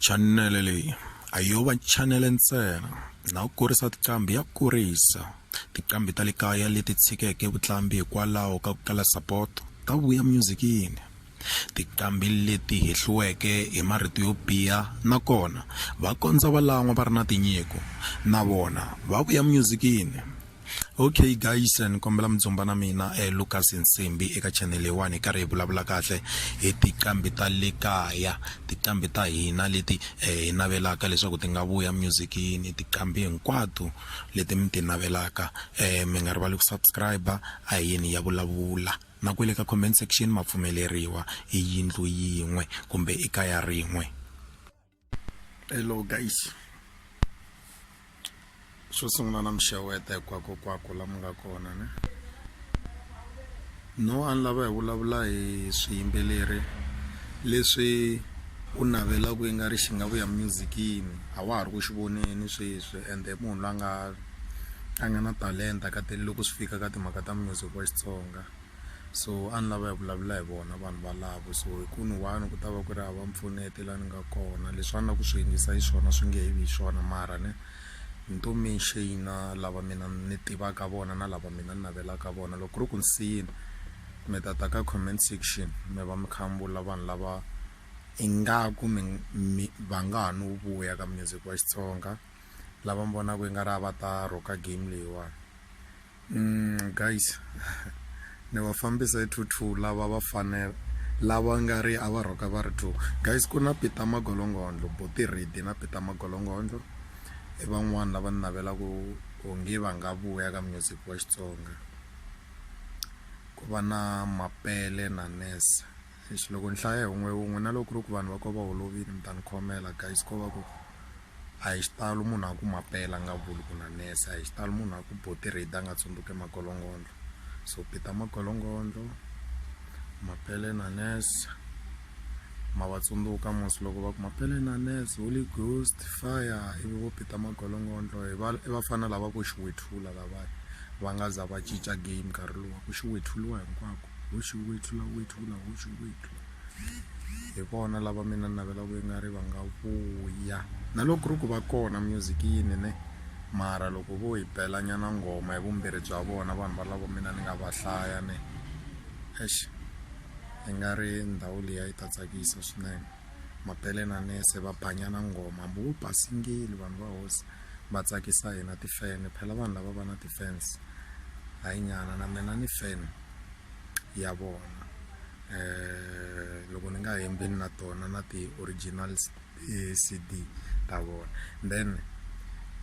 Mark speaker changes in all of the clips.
Speaker 1: chanele leyi a yo va chanele ntsena na ku kurisa tiqambi ya kurisa tiqambi ta le kaya leti tshikeke vutlambi hikwalaho ka ku kala sapoto ta vuya myuzikini tiqambi leti hehliweke hi marito yo biha nakona va kondza valan'wa va ri na tinyiko na vona va vuya myuzikini okay guys ni kombela mudzumba na mina eh, lucas nsimbi eka channel leyiwani hi karhi hi vulavula kahle hi tiqambi ta le kaya tiqambi ta hina leti eh, hi navelaka leswaku ti nga vuya musicini tiqambi hinkwato leti mi ti navelaka eh, mi nga rivali ku subscribe a hi yini ya vulavula na kwele ka comment section ma pfumeleriwa i yindlu yin'we kumbe i kaya rin'we hello guys xo sungula na mixeweta hinkwakokwako lama nga kona ne no a ni lava hi vulavula hi swiyimbeleri leswi u navelaka yi nga ri xi nga vuya musicini a wa ha ri ku xi voneni sweswi ende munhu la nga a nga na talenta ka te loko swi fika ka timhaka ta music wa Xitsonga. so a ni lava hi vulavula hi vona vanhu valavo so hi ku ni one ku ta va ku ri hava mpfuneti la ni nga kona leswi a ni la ku swi yingisa hi swona swi nge he vi hi swona mara ne ni to menxina lava mina ni tivaka vona na lava mina ni navelaka vona loko ku ri ku ni siyini mi ta ta ka comment section mi va mi kha mi vula vanhu lava ingaku mi mi va nga ha no vuya ka music wa xitsonga lava mi vonaka i nga ri a va ta rhoka game leyiwani Mm, guys ni va fambisa hi two two lava va fanela lava nga ri a va rhoka va ri two guys ku na peter magolongondlo boti redi na peter magolongondlo i van'wani lava ni navelaka onge va nga vuya ka music wa xitsonga ku va na mapele na nesa Eish loko ni hlaya hi wun'we hi wun'we na loko ku ri ku vanhu va ko va holovile mi ta ni khomela guys ko va ku a hi xitalo munhu a ku mapela a nga vuli ku na nurse a hi xitalo munhu a ku botirade a nga tsundzuke magolongondlo so pita magolongondlo mapele na nurse ma va tsundzuka mos loko va ku mapele na nurse holy ghost fire ivi vo pita magolongondlo hi va i vafana lava vo xiwethula lavaya va nga za va cinca game nkarhi lowu ku xiwethuliwa hinkwako hosi wethu la wethu ku na hosi wethu hi vona lava mina ni navelaka yi nga ri va nga vuya na loko ku ri ku va kona music yini ne mara loko vo hi bela nyana nghoma hi vumbirhi bya vona vanhu valavo mina ni nga va hlaya ne exi hi nga ri ndhawu liya yi ta tsakisa swinene mapele na nese va banyana nghoma hambi wu basingile vanhu va hosi va tsakisa hina tifene phela vanhu lava va na ti-fans hayi nyana na mina ni fan ya vona eh loko ni nga hembi na tona na ti-original eh, CD ta vona then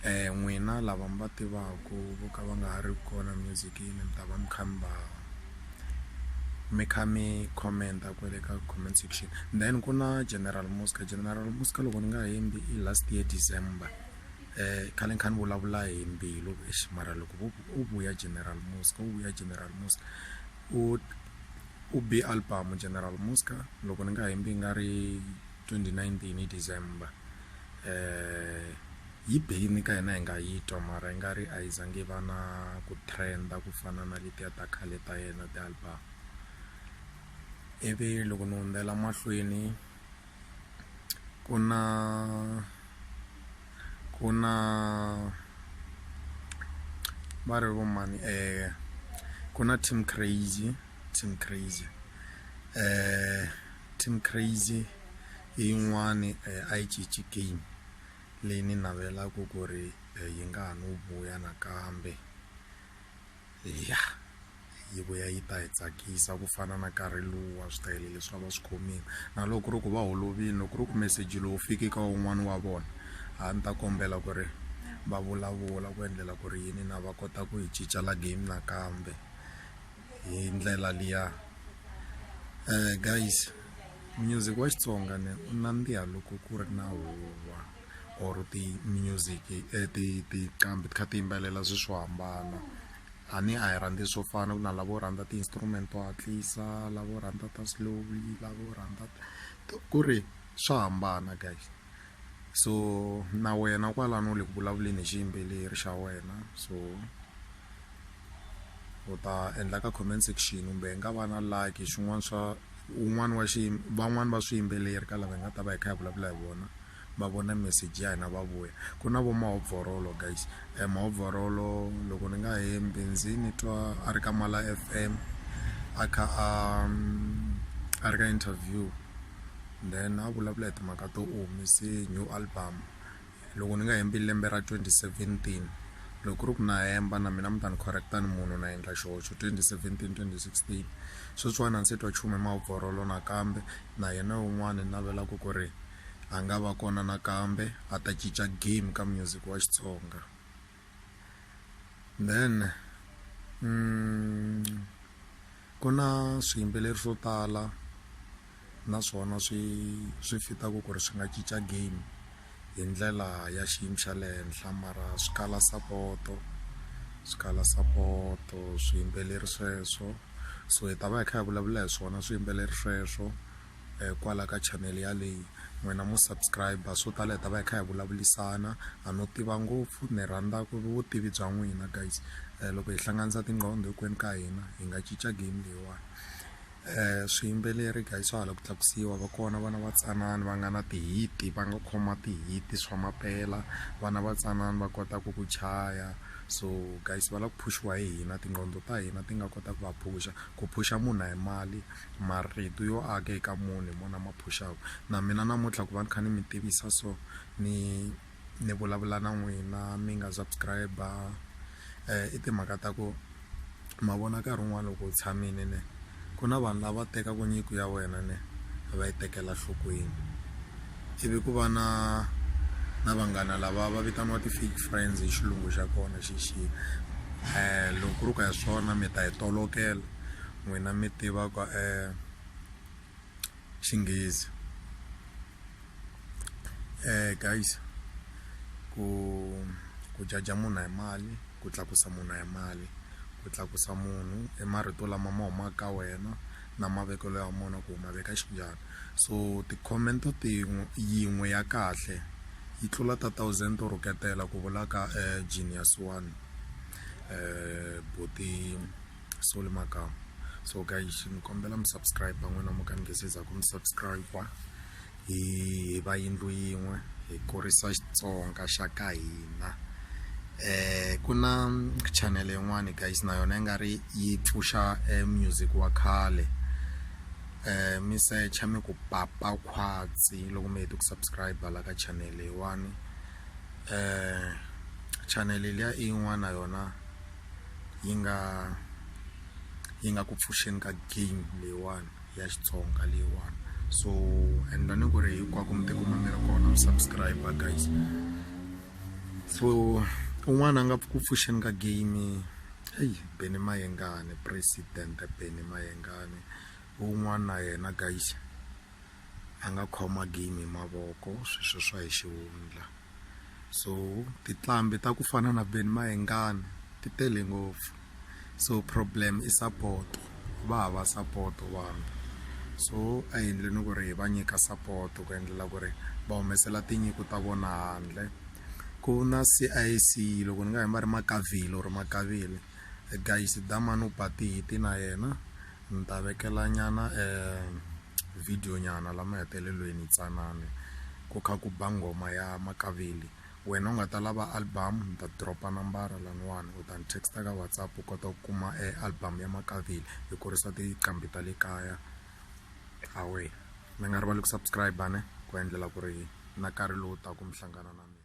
Speaker 1: eh n'wina lava mi va tivaku vo ka va nga ha ri kona music-ini mi ta va mi kha mi va mi kha mi comment-a kwale ka comment section then ku na general muska general muska loko ni nga hembi i last year december um khale ni kha ni vulavula hi mbilu ex mara loko u vuya general muska u vuya general muska u u be album general muska loko ni nga hembi nga ri 2019 hi december um Yi be yi ni ka hina hi nga yi twa mara yi nga ri a yi za ngi va na ku trend-a ku fana na letiya ta khale ta yena ti-album ivi loko ni hundzela mahlweni ku na ku na va ri vo mani ku na team crazy team crazy team crazy i yin'wani a yi cinci game. leyi ni navelaka ku ri yi nga ha no vuya nakambe ya yi vuya yi ta hi tsakisa ku fana na nkarhi luwa swi ta yini leswi a va swi khomile na loko ku ri ku va holovile loko ku ri ku meseji lowu fiki ka wun'wani wa vona a ni ta kombela ku ri va vulavula ku endlela ku ri yini na va kota ku yi cinca la game nakambe. hi ndlela liya um guys music wa xitsonga ne u nandziha loko ku ri na huwa or ti-music eh, tiqambi ti kha ti yimbelela swi swo hambana a ni a hi rhandzi swo fana ku na lavo rhandza ti-instrument to hatlisa lavo rhandza ta slowly lavo rhandza ku ri swa hambana guys so na wena kwalano u le ku vulavuleni hi xiyimbeleri xa wena so u ta endla ka comment section kumbe hi nga va na like xin'wana swa un'wana wa xiyimo van'wani va swiyimbeleri ka lava hi nga ta va hi kha hi vulavula hi vona va vona message ya hina va vuya ku na vo mahobvorolo guys um mahobvorolo loko ni nga hembi ndzi ni twa a ri ka mala f m a kha a a ri ka interview then a vulavula hi timhaka to u humese new album loko ni nga hembi lembe ra 2017 loko ku ri ku na hemba na mina mi ta ni correcta ni munhu na endla xihoxo 2017 2016 sweswiwani a ni se twa chume mavhorolo nakambe na yena un'wana ni navelaka ku ri a nga va kona nakambe a ta cinca game ka music wa xitsonga then ku na swiyimbeleri swo tala naswona swi swi fit-aka ku ri swi nga cinca game hi ndlela ya xiyimo xa le henhla mara swi kala sapoto swi kala sapoto swiyimbeleri sweswo so hi ta va hi kha hi vulavula hi swona swiyimbeleri sweswo. um kwala ka chanele yaleyi n'wina mu subscribe swo tala hi ta va hi kha hi vulavulisana a no tiva ngopfu ni rhandza ku vutivi bya n'wina guys um loko hi hlanganisa tinqondo hinkwenu ka hina hi nga cinca game leyiwani um swiyimbeleri guys swa hala ku tlakusiwa va kona vana va tsanana va nga na tihiti va nga khoma tihiti swa mampela vana va tsanana va kota ku ku chaya so guys va lava ku phuxiwa hi hina tinqondo ta hina ti nga kota ku va phuxa ku phuxa munhu a hi mali marito yo aka eka munhu hi mona ma phuxaka na mina namuntlha ku va ni kha ni mi tivisa so ni ni vulavula na n'wina mi nga subscribe um eh, i timhaka ta ku ma vona nkarhi wun'wana loko u tshamile ne ku na vanhu lava tekaka nyiko ya wena ne va yi tekela nhlokweni ivi ku va na na vanghana lava va vitaniwa ti-fake friends hi xilungu xa kona xexi um eh, loko ku ri ku ya swona mi ta yi tolokela n'wina mi tivaka xinghezi guys ku ku jaja munhu hi mali ku tlakusa munhu hi mali ku tlakusa munhu i marito lama ma humaka ka wena na mavekelo ya mona ku ma veka xinjhani so ti-comment tin'we yin'we ya kahle yi tlula ta thousand to rhuketela ku vulaka genius one um buti. soli makamu so guys ni kombela mi subscribe n'wina mo ka ni nge se za ku mi subscribe hi hi va yindlu yin'we hi kurisa xitsonga xa ka hina eh ku na channel yin'wani guys na yona yi nga ri yi pfuxa eh, music wa khale eh mi secha mi ku papa khwatsi loko mi hete ku subscribe la ka channel leyiwani eh channel liya i yin'wana yona yi nga yi nga ku pfuxeni ka game leyiwani ya xitsonga leyiwani so and ni ku ri hinkwako mi tikuma mi ri kona mi subscribe guys so un'wana a nga ku pfuxeni ka game eyi beni mayengane president beni mayengane un'wana na yena guys a nga khoma game hi mavoko sweswo swa hi xihundla so tinqambi ta ku fana na Ben Mayengani ti tele ngopfu so problem i support va hava support vanhu so a hi endleni ku ri hi va nyika support ku endlela ku ri va humesela tinyiko ta vona handle ku na CIC loko ni nga hi ma ri Makavile or Makavile guys damani u ba tihiti na yena ni ta vekela nyana video nyana la mahetelelweni tsanana ku kha ku ba nghoma ya makaveli wena u nga ta lava album ni ta dropa nambara laniwani u ta ni text ka whatsapp u kota ku kuma e album ya makaveli hi kurisa tiqambi ta le kaya awe mi nga rivali ku subscribe ne ku endlela ku ri na nkarhi lowu taka mi hlangana na mina